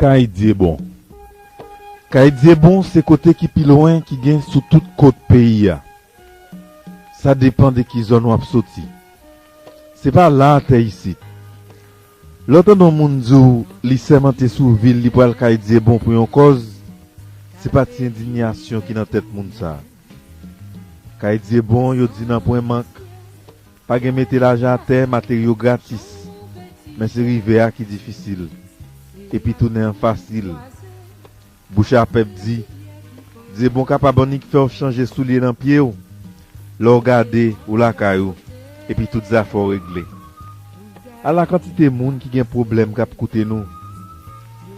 Kay Dyebon Kay Dyebon se kote ki pi lwen ki gen sou tout kot peyi a. Sa depan de ki zòn w ap soti. Se pa la a tè isit. Lè w tande yon moun di w li sèmante sou vi l li pral kay Dyebon pou yon kòz, se pa ti endinyasyon ki nan tèt moun sa a. Kay Dyebon, yo di nanpwen mank, pa gen mete lajan atè, materyo gratis. Men se rive a ki difisil. Epi tounen an fasil. Bouch a pèp di, Dyebon kapab annik fè w chanje soulye nan pye w lè w gade ou lakay ou epi tout zafè w regle. Ala kantite moun ki gen pwoblèm k ap koute nou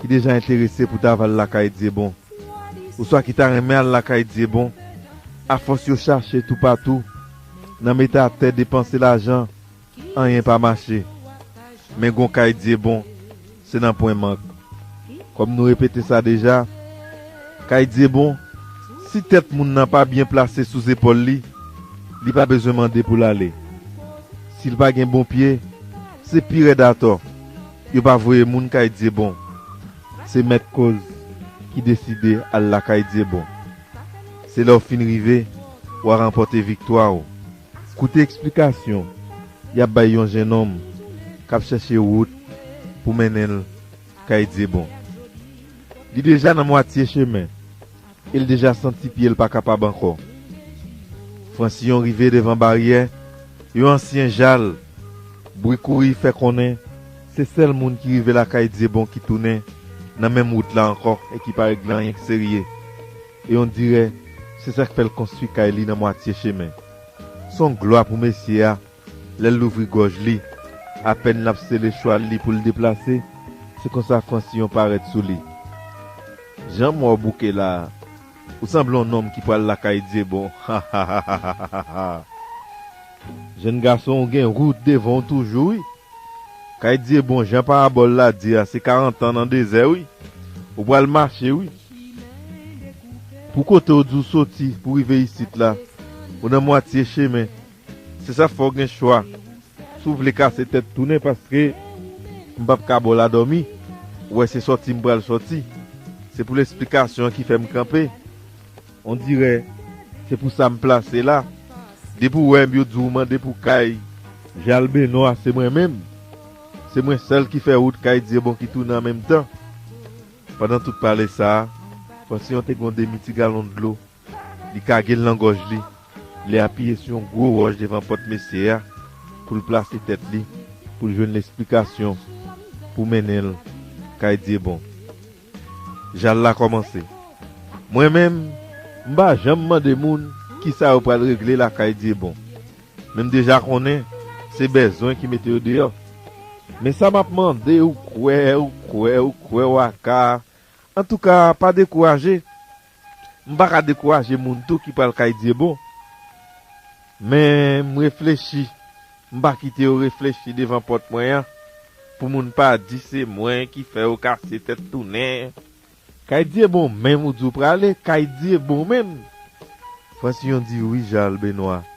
ki deja enterese pou ta va l lakay Dyebon oswa ki ta renmen al lakay Dyebon afòs yo chache toupatou nan mete atè depanse lajan Anyen pa mache, men gon kay Dyebon, se nan pwen mank. Kòm nou repete sa deja, kay Dyebon, si tèt moun nan pa byen plase sou zepòl li, li pa bezwen mande pou l ale. Si l pa gen bon pye, se pi rèd atò, yo pa voye moun kay Dyebon. Se mèt kòz ki deside al lakay Dyebon. Se lè w fin rive, w a ranpòte viktwa w. Koute eksplikasyon y ap bay yon jennonm k ap chèche wout pou mennen l kay Dyebon. Li deja nan mwatye chemen e l deja santi pye l pa kapab ankò. Fransiyon rive devan baryè yon ansyen jal, bri kouri fè konnen se sèl moun ki rive lakay Dyebon ki tounen nan menm wout la ankò e ki pa regle anyen k serye. E on dirè se sa k fè l konstwi kay li nan mwatye chemen. S on glwa pou mesye a lè l louvri gòj li, apèn l ap sele chwal li pou l deplase, se konsa Franciyon parèt sou li. Jan m wè w bouke la a, ou sanble on nonm ki pral lakay Dyebon, hahahahahaha! Jèn gason ou gen wout devan w toujou wi! Kay Dye bon jan parabòl la di a se karantan nan dezè wi ou pral mache wi pou kote ou di ou soti pou rive isit la ou nan mwatye chemen se sa fè ou gen chwa si ou vle kase tèt tounen paske m pap ka baw la dòmi ou wè se sòti m pral sòti se pou l esplikasyon an ki fè m kanpe. On dirè se pou sa m plase la Depi w wè m yo di w mande pou kay Jal Benoit se mwen menm Se mwen sèl ki fè wout kay Dyebon ki tounen an menm tan Pandan tout pale sa Fransyon te gen yon demi ti galon dlo Li kage l nan gòj li Li apiye sou yon gwo wòch devan pòt mesye a pou l plase tèt li pou l jwenn lesplikasyon pou mennen l kay Dyebon Jal la kòmanse. Mwen menm, m pa janm mande moun ki sa yo pral regle lakay Dyebon. Men m deja konnen se bèzwen ki mete yo deyò. Men sa m ap mande ou kwè ou kwè ou kwè ou aka, antouka pa dekouraje, M pa ka dekouraje moun tou ki pral kay Dyebon, men m reflechi, m pa kite yo reflechi devan pòt mwen an, pou moun pa di se mwen ki fè yo kase tèt tounen. Kay Dyebon menm ou di w prale kay Dyebon menm? Francion di, Wi Charles Benoit.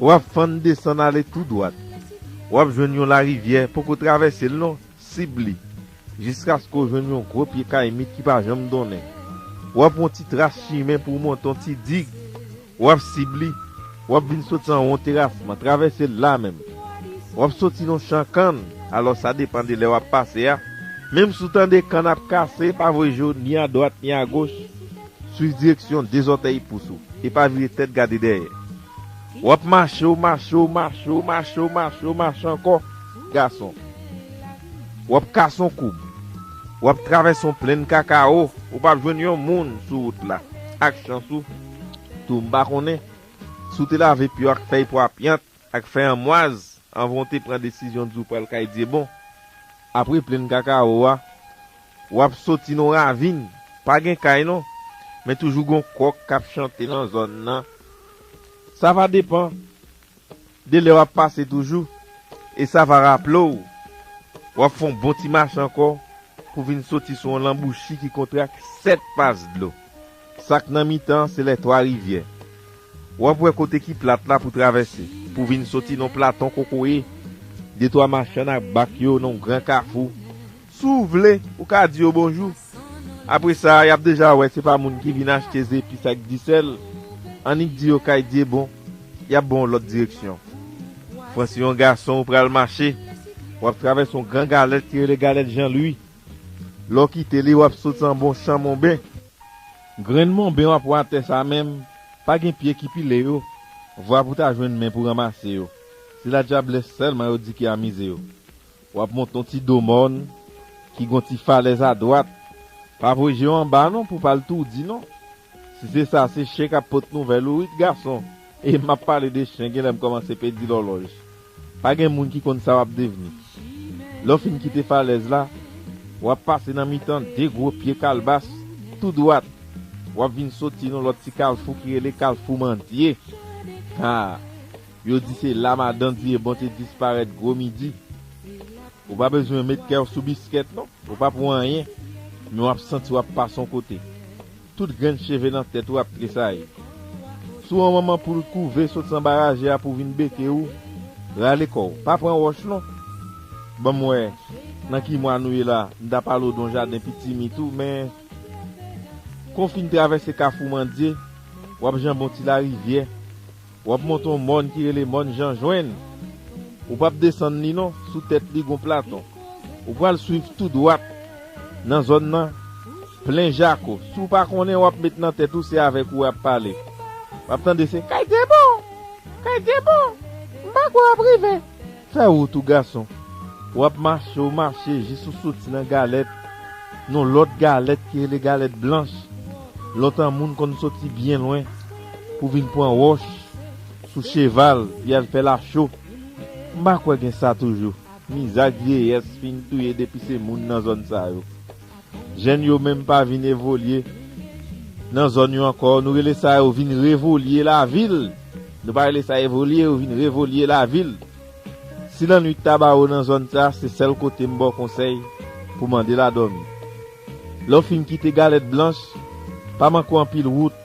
W ap fann desann ale tou dwat. W ap jwenn yon larivyè, poko travèse l non, sib li, jiskaske w jwenn yon gwo pye kayimit ki pa janm donnen. W ap yon ti tras chimen pou w monte yon ti dig, w ap sib li, w ap vin soti anwo yon terasman, travèse l la menm. W ap soti nan yon chan kann, alò sa depan de lè w ap pase a, menm si w tande kann ap kase, pa voye je w ni adwat ni agoch. Swiv direksyon de zòtèy pous ou e pa vire tèt gade dèyè. W ap mache, w mache, w mache, w mache, w mache, w mache ankò, gason. W ap kase yon koub. W ap travèse yon plenn kakawo. Ou pa p jwenn yon moun sou wout la. Ak chans ou tou, m pa konnen si w te lave pye w ak fèy pwa pyant. Ak fè anmwaz anvan w te pran desizyon di w pral kay Dyebon. Apre plenn kakawo a, w ap soti nan w ravin. Pa gen kay non, men toujou gen w kòk k ap chante nan zòn nan. Sa va depan de lè w ap pase toujou e sa va raple w w ap fè w bon ti mache ankò pou w vin soti sou yon lanbouchi ki kontre ak sèt pas dlo. Sak nan mitan se lè twa rivyè. Wap wè kote ki plat la pou travèse, pou vin soti nan platon kokoye, de twa machann ak bak yo nan yon gran kafou. Si w vle, ou ka di yo bonjou. Apre sa, yap deja wè se pa moun ki vin achte zepis ak disèl, annik di yo kay Dyebon, yap ban w lòt direksyon. Fransi yon gason ou pral mache, wap travèse yon gran galèt ki rele galèt Janlwi. Lè w kite li, w ap sot san bon chan monben. Grenn monben w ap wè atè sa a menm, pa gen pye ki pile yo, vwa pou ta jwenn men pou ranmase yo. Se ladyablès sèlman yo di ki amize yo. W ap monte yon ti do mòn ki gen yon ti falèz adwat. Pa voye je w anba non pou w pa al toudi non. Si se sa, se chen k ap pot nouvèl ou wi, ti gason. E m ap pale de chen, gen lè m kòmanse pèdi lòlòj. Pa gen moun ki konn sa w ap devni. Lè w fin kite falèz la, w ap pase nan mitan de gwo pye kalbas tou dwat, w ap vin soti nan lòt ti kalfou ki rele kalfou Mandye. Ha! Yo di se la Madan Diyebon te disparèt gwo midi. Ou pa bezwen met kè w sou biskèt non, ou pa pou anyen, men w ap santi w ap pase yon kote. Tout grenn cheve nan tèt ou ap tresayi. Sou an manman poul kouve sot san baraje a pou vin beke ou, rale kò w, pa pran wòch non. Banm wè nan ki mwa nou ye la, m ta pale w don jaden pitimi tou men Kon fin travèse kafou mandye, wap janbon ti larivyè. W ap monte yon mòn ki rele Mòn Janjwenn. Ou pap desann li non, sou tèt li gon platon. Ou pral swiv tou dwat nan zòn nan plen jako. Si w pa konnen w ap met nan tèt ou se avèk ou y ap pale. W ap tande se Kay Debon! Kay Debon! M pa kwè w ap rive. Fè wout ou gason. W'ap mache ou mache jis ou soti nan galèt, nou lòt galèt ki rele galèt blanch. Lontan moun konn soti byen lwen pou vin pwan wòch sou cheval pou y'al fè lacho. M'pa kwè gen sa toujou, mizag vyeyès fin touye depi se moun nan zòn sa yo. Jèn yo menm pa vin evolye nan zòn yo ankò. Nou rele sa yo vin revolye lavil. Nou pa rele sa evolye, yo vin revolye lavil. Si lannwit ta ba ou nan zòn sa, se sèl kote m ba w konsèy pou mande la dòmi. Lè w fin kite Galèt Blanch, pa manke w anpile wout.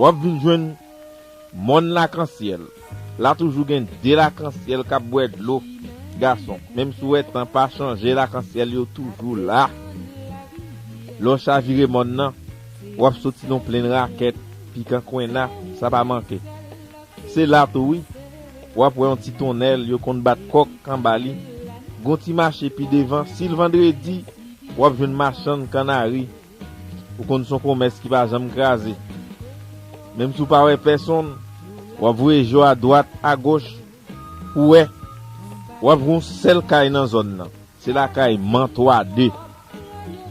Wap vin jwenn mòn lakansyèl la toujou gen 2 lakansyèl kap bwè dlo gason menm si w wè tan pa chanje lakansyèl yo toujou la lè w chavire mòn nan wap soti nan w plenn rakèt pikan kwenna sa pa manke se la tou wi wap wè yon ti tonnèl yo konn bat kòk anba li gon ti mache pi devan sil vandredi wap jwenn machann kannari Ou konn son komès ki pa janm kraze. Menm si w pa wè pèsonn, w ap voye je w adwat, agoch, pou w wè. W ap jwenn yon sèl kay nan zòn nan. Se lakay Man 3 2.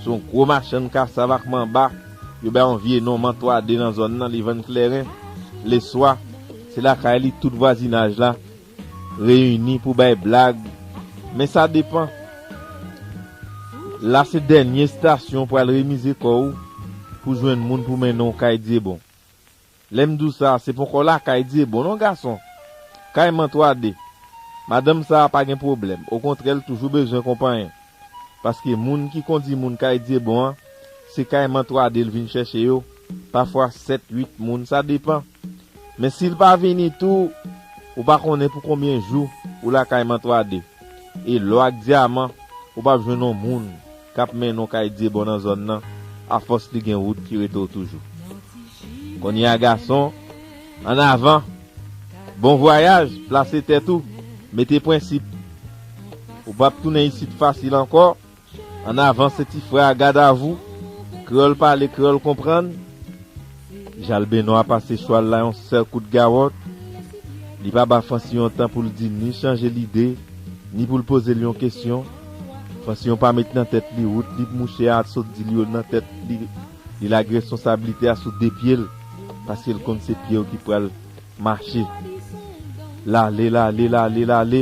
Se yon gwo machann kasav ak manba, yo bay yon vye non Man 3 2 nan zòn nan, li vann klèren. Leswa, se lakay li tout vwazinaj la Reyini pou bay blag, men sa depan. La se dènye stasyon w pral remize kò w pou jwenn moun pou mennen w kay Dyebon. Lè m di w sa, se ponkò lakay Dyebon non gason! Kay Mantwade, madanm sa a pa gen pwoblèm, okontrè l toujou bezwen konpanyen. Paske moun ki kondi moun kay Dyebon an, se kay Mantwade l vin chèche yo. Pafwa 7 8 moun sa depan. Men sil pa vini tou ou pa konnen pou konbyen jou ou lakay mantrade e lò ak dyaman ou pap jwenn on moun kap mennen w kay dyebon nan zòn nan afòs li gen wout ki rete w toujou kounye a gason an avan bon vwayaj plase tèt ou mete prensip ou pap tounen isit fasil ankò. An avan se ti frè a gadavou, kreyòl pale kreyòl konprann, Jalbeno a pase chwal la yon sèl kout gawòt, li pa ba Francion tan pou l di ni chanje lide, ni pou l poze l yon kesyon, Francion pa met nan tèt li wout li p mouche a sot di l yo nan tèt li, li lage responsablite a sou de pye l, paske l konn se pye yo ki pral mache. Lale, lale, lale, lale.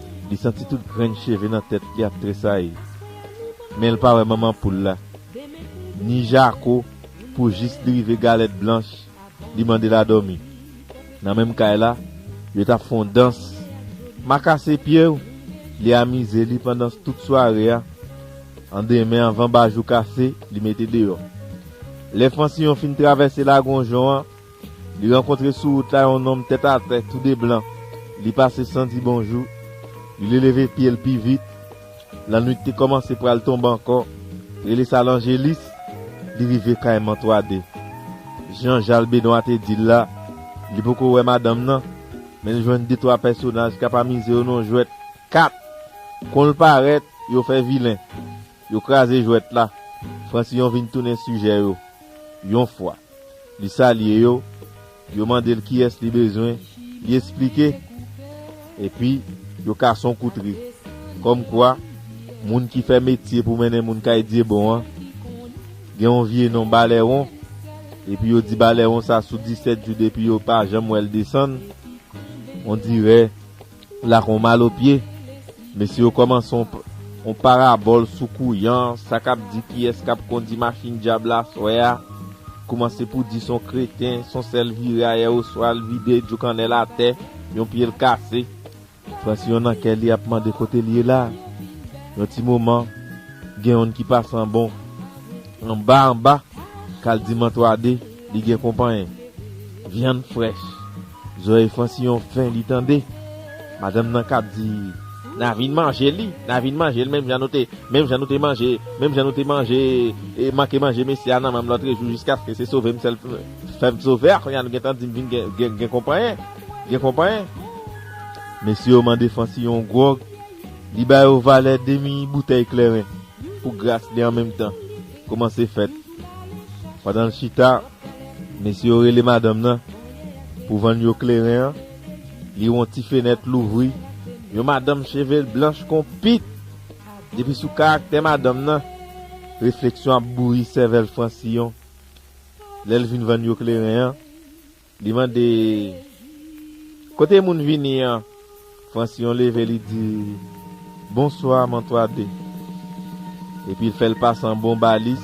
Li santi tout grenn cheve nan tèt li ap tresayi. Men l pa wè manman poul la, ni Jako pou jis li rive Galèt Blanch li mande l a dòmi. Nan menm kay la, yo t ap fè yon dans. Ma kase pye w! Li amize li pandan tout sware a. An demen anvan bajou kase, li mete deyò. Lè Fansiyon fin travèse Lagon Jon an, Li rankontre sou wout la yon nonm tèt atè, tou de blan. Li pase san di bonjou. Li le leve pye l pi vit. Lannwit te kòmanse pral tonbe ankò. Rele sa lanjelis. Li rive kay Mantwade. Jan Jal Benwa te di l la, li poko wè madanm nan, men l jwenn de twa pèsonaj k ap amize yo nan yon jwèt kat. Kon l parèt, yo fè vilen. Yo kraze jwèt la. Francillon vin tounen sijè yo. Yon fwa. Li salye yo. Yo mande l kiyès li bezwen. Li esplike. Epi, yo kase yon kout ri. Kòmkwa, moun ki fè metye pou mennen moun kay Dyebon an, gen yon vye non Balèwon, epi yo di Balèwon sa sou disèt jou depi yo pa janm wè l desann, ondirè. la kon malo pye mesye yo kòmanse on parabòl sou kouyan sa kap di kiyès kap kondi machin dyab la aswè a koumanse pou di son kreten son sèl vire ayè oswa l vide djo kannèl atè yon pye l kase Frantz yon nan kè li ap mande kote l ye la yon ti moman gen yon n ki pase anbon anba anba kal di mantwade li gen konpanyen vyann frèch. Zòrèy Fransillon fen li tande madanm nan kap di Na vin manje li, na vin manje l menm jan nou te, menm jan nou te manje, menm jan nou te manje e manke manje mesye a nan menm lòtre jou jiskaske se sove m sèl fè m sove a kounya nou gentan di m vin gen gen konpanyen, gen konpanyen. Mesye yo mande Fransillon gwòg, li ba yo valè demi boutèy klèren pou gras li an menm tan koumanse fèt. Pandan l chita. Mesye yo rele madanm nan pou vann yo kleren an, li wè yon ti fenèt louvri, yon madanm cheve l blanch kon pit! Depi sou karaktè madanm nan, refleksyon ap bouyi sèvèl Francion. Lè l vin vann yo kleren an, li mande, Kote moun vini an? Francion leve li di, Bonswa, Mantwade. Epi l fè l pase an bon balis.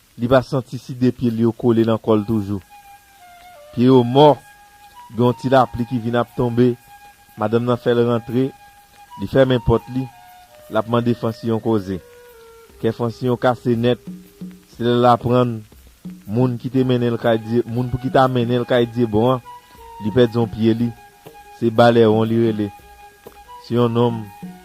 Li pa santi si de pye l yo kole nan kò l toujou. Pye yo mò, gen yon ti lapli ki vin ap tonbe, madanm nan fè l rantre, li fèmen pòt li, l ap mande Fansiyon koze. Kè Fansiyon kase nèt, se lè l aprann moun ki te mennen l kay Dye, moun pou ki ta mennen l kay Dyebon an, li pèdi yon pye li, se Balèwon li rele, se yon nonm.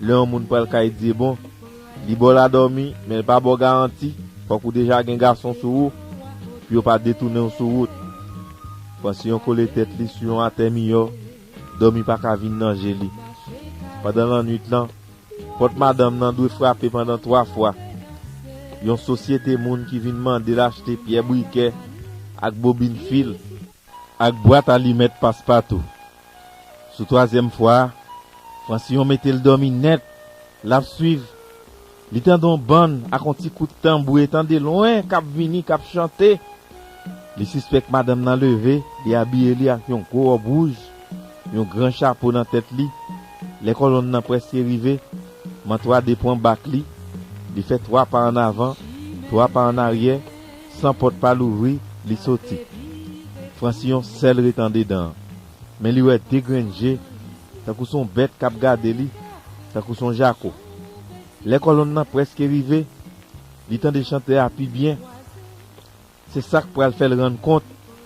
Lè yon moun pral kay Dyebon, li ba w ladòmi, men l pa ba w garanti, fòk ou deja gen gason sou ou, pou yo pa detounen w sou wout. Pansyon kole tèt li sou yon atè miyò, dòmi pa ka vin nan je li. Pandan lannuit lan, pòt madanm nan dwe frape pandan twa fwa. Yon sosyete moun ki vin mande l achte pyè brikè ak bobin fil Ak bwat alimèt Paspatou. Sou twazyèm fwa, Fransillon mete l dòmi nèt, l ap swiv. Li tande yon bann ak yon ti kout tanbou etan de lwen k ap vini, k ap chante. Li sispèk madanm nan leve, li abiye li ak yon gwo wòb wouj, yon gran chapo nan tèt li. Lè kòlonn nan prèske rive, Mantwa depran bak li, li fè twa pa annavan, twa pa annaryè. San pòt pa louvri, li soti. Fransillon sèl ret andedan an. Men li wè de grenn je, tankou s on bèt k ap gade li, tankou s on jako. Lè kòlonn nan prèske rive, li tande chantè a pi byen. Se sa k pral fè l rann kont.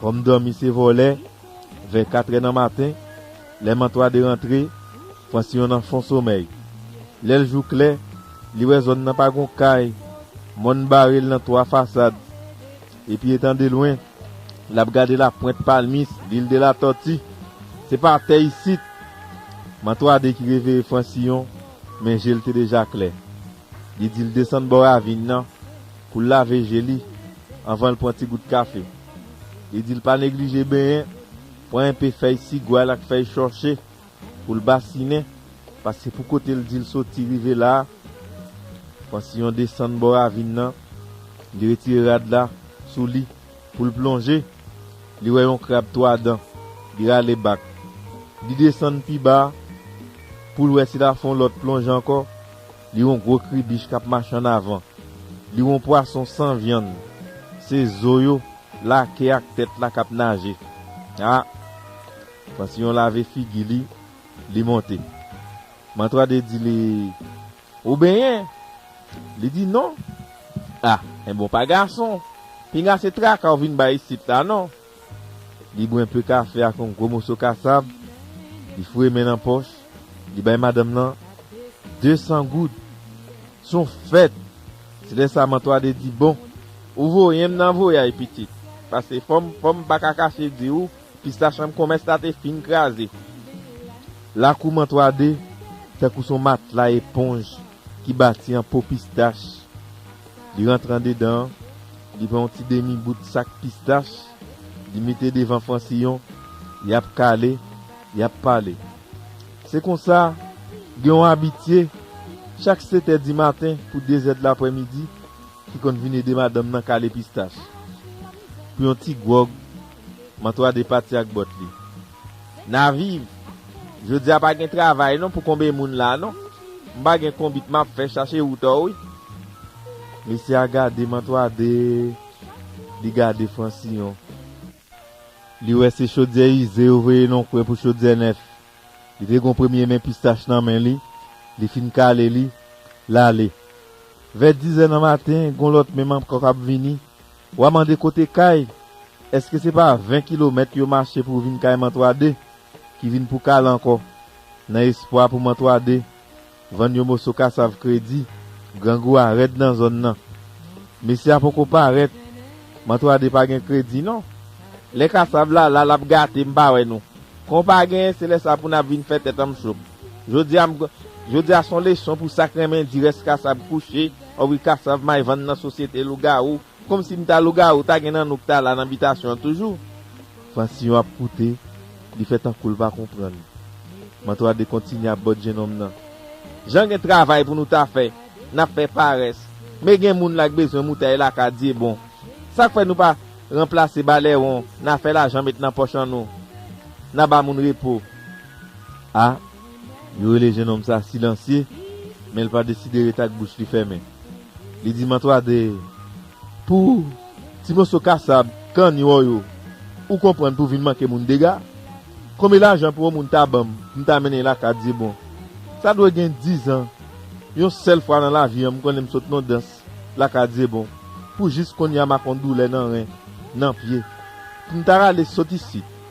Kòm dòmi se vòlè, vè katrè nan maten, lè Mantwa de rantre, Fransyon nan fon somèy. Lè l jou klè, li wè zòn nan pa gon kay, mòn bare l nan twa fasad. Epi etan de lwen, l ap gade lapwent palmis Lil de la Tòti. Se pa tè isit! Mantwa de ki reveye Fransiyon, men je l te deja klè. Li di l desann bò ravin nan. Pou l lave je li anvan l pran ti gout kafe. Li di l pa neglije benyen, pran enpe fèy sigwal ak fèy chòche pou l basinen paske pou kote l di l soti rive la a, pran siyon desann bò ravin nan, li retire rad la sou li pou l plonje, li wè yon krab twa dan, li rale bak. Li desann pi ba pou l wè si l afon lòt plonje ankò. Li yon gwo kribich k ap mache ann avan. Li yon pwason san vyann. Se zo yo, lake ak tèt la k ap naje. A! Pansiyon lave figi li, li monte. Mantwade di li, Ou benyen? Li di, Non. A! Enben w pa gason. Pinga se traka w vin bay isit la non. Li bwè enpe kafe ak yon gwo moso kasab, li foure men nan pòch, li bay madanm lan de san goud. Se yon fèt! Se lè sa Mantwade di, Bon, ou voye m nan voyaj, pitit, paske fò m fò m pa ka kache di ou, pista chanm konmès la te fin kraze. Lakou Mantwade tankou se yon matla eponj ki bati an po pistach. Li rantre andedan, li pran yon ti demi bout sak pistach, li mete devan Francillon, y ap kale, y ap pale. Se konsa, gen yon abitye, chak setè dimaten pou dezè dlapremidi, ki konn vin ede madanm nan kale pistach. Pou yon ti gwòg. Mantois de pati ak bòt li. Na viv. Jodia pa gen travay non pou konbe moun la non. M pa gen konbit map fè chache woutò wi. Mesye a gade Mantois de li gade Francillon. Li wè se chodyè ize yo voye non kwen pou chodyè nèf. Li te gon premye men pistach nan men li, li fin kale li, lale. Vè dizè nan maten gon lòt men m ankò kap vini. Wa mande kote kay? Eske se pa 20 kilomèt yo mache pou vin kay Mantwade ki vin pou kal ankò nan espwa pou Mantwade vann yo moso kasav kredi? Grangou a rèd nan zòn nan. Mesye a poko parèt. Mantwade pa gen kredi non. Lè kasav la la lap gate m pa wè nou. Kon pa genyen se lè sa pou nap vin fè tèt anm cho. Jodia m Jodia son leson pou sak renmen di rès kasab kouche oh wi kasav may vann nan sosyete lougawou komsi m ta lougawou ta gen nan nou k ta la nan bitasyon an toujou. Fransyon ap koute li fè tankou l pa konprann Mantwade kontinye ap bòt jenòm nan jan gen travay pou nou ta fè n ap fè parès men gen moun la k bezwen moutay la ka dyebon sa k fè nou pa ranplase balèwon na fè lajan met nan pòch an nou na ba moun repo. A, Yo rele jenòm sa a silansye, men l pa deside rete ak bouch li fèmen. Li di mantwa de Pou ti moso kasab, kann, yo yo, ou konprann pou vin manke moun dega? Konbe lajan pou yon moun ta ban m pou m ta mennen lakay Dyebon? Sa dwe gen dizan, yon sèl fwa nan lavi an m konnen m sot nan dans lakay Dyebon, pou jis konnya m ak yon doulè nan ren, nan pye. Pou m ta rale sot isit.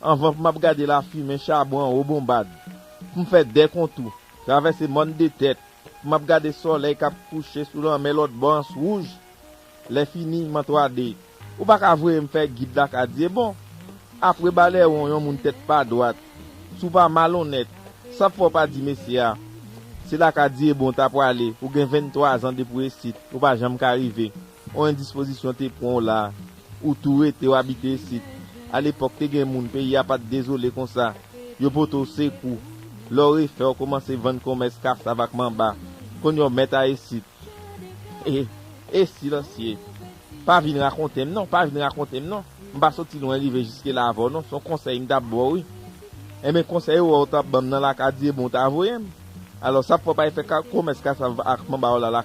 Anvan pou m ap gade lafimen chabon anwo bonbad, pou m fè de kontou, travèse mòn de tèt, pou m ap gade sòlèy k ap kouche sou lanmè lòtbò ans wouj, lèfini, m an 3 de. Ou pa ka voye m fè gid lakadye bon! Apre balèwon yon moun tèt pa dwat, si w pa malonnèt, sa ap fè w pa di mesye a, Se lakadye bon w ta prale, ou gen 23 zan depi w esit, ou pa janm ka rive. On endispozisyon te pwan w la, ou tou rete w abite isit. A lepòk te gen moun peyi a pa t dezole konsa, yo pote w sekou. Lè w refè w koumanse vann konmès kasav ak manba. Konnya w mèt a isit. E, e Silansye, pa vin rakonte m non, pa vin rakonte m non. M pa soti lwen rive jiske la avè w non, s on konsèy m t ap ba w wi. Enben konsèy ou wè w t ap ban m nan la ka di e bon w ta voye m. Alò sa pou w pa al fè konmès kasav ak manba w la la.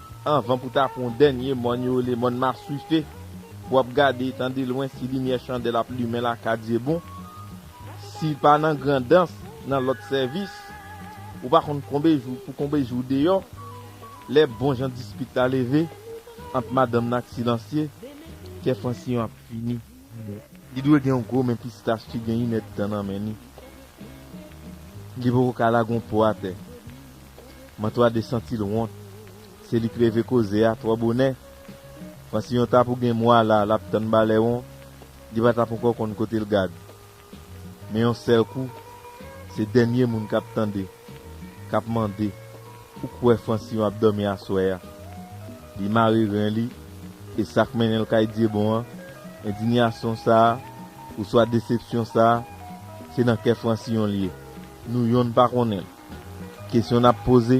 Anvan pou ta pran w dènye mòn yo rele mòn Maswife, w ap gade etan delwen si limyè chandèl ap limen lakadye bon. Si l pa nan Grandans, nan lòt sèvis, ou pa konn konbe jou pou konbe jou w deyò, lè bon jan dispit la leve ant madanm nan ak Silansye, kè Fransiyon ap fini. Li dwe gen yon gwo men pistach ki gen yn èd tan nan men li. Li poko ka lage yon po atè. Mantwade santil wont. Se li k reve koze a twò bonè. Panse yon ta pou gen mwa la lap tann balèwon, li pa tap ankò konn kotel gad. Men yon sèl kou, se dènye moun k ap tande, k ap mande, Ou kwè Fransyon ap dòmi aswè a? Li mare ren li, e sa k mennen l kay Dyebon an, endinyasyon sa a, oswa desepsyon sa a, se nan kè Fransiyon l ye. Nou yonn pa konnen l. Kesyon n ap poze?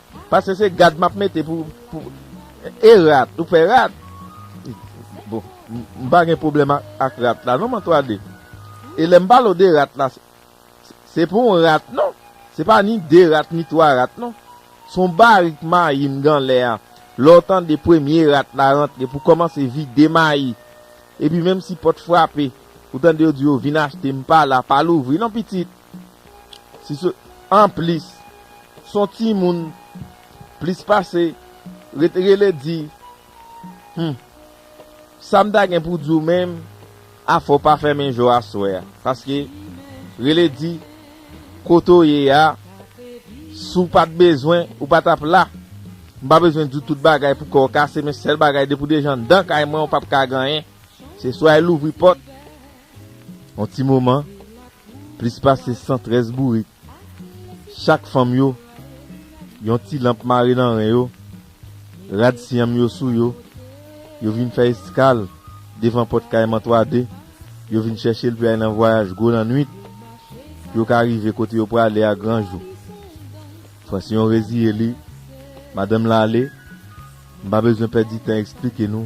Pase se gad map mete pou e rat ou fe rat bon m pa gen problem ak rat la non m antwade e lem palo de rat la se pa yon rat non se pa ni de rat ni twa rat non son barik mayi m gan le a le w tande premye rat la rantre pou komanse vide mayi epi menm si pot frape ou tande yo di yo vin achte m pala pa louvri non pitit. Si se anplis s on timoun plis pase ret rele di Humm sa m ta gen pou di w menm a fò w pa fèmen je w aswè a paske rele di kote w ye a si w pa t bezwen ou pa t ap la m pa bezwen di w tout bagay pou kè w kase men sèl bagay depi w deja anndan kay mwen ou p ap ka gen anyen se swa e louvri pòt On ti moman, plis pase 113 bourik, chak fanm yo, yon ti lanp mare nan ren yo, rad syanm yo sou yo, yo vin fè eskal devan pòt kay Mantwade, yo vin chèche l pou y al nan vwayaj gwo lannwit, pou yo ka rive kote yo prale a gran jou. Fransyon reziye li, Madanm Lale, m pa bezwen pèdi tan esplike nou,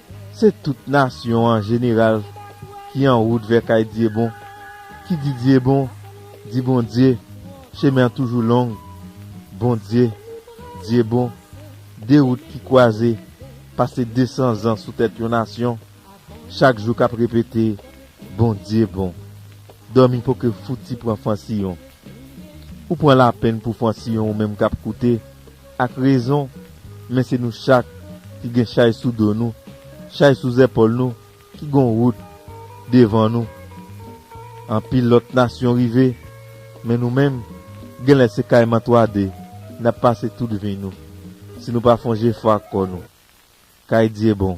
Se tout nasyon an jeneral ki an wout vè kay Dyebon, ki di Dyebon, di Bondye, chemen an toujou long, Bondye, Dyebon, de wout ki kwaze, pase desan zan sou tèt yon nasyon, chak jou k ap repete, Bondye bon. Dòmi po ke fouti pran fansiyon. Ou pran lapenn pou fansiyon ou menm k ap koute. Ak rezon, men se nou chak ki gen chay sou do nou, chay sou zèpòl nou ki gon wout devan nou. Anpil lòt nasyon rive, men nou menm, genlè se kayman twa de n ap pase tout vi nou, si nou pa fon jefò ak kò nou. Kay Dyebon.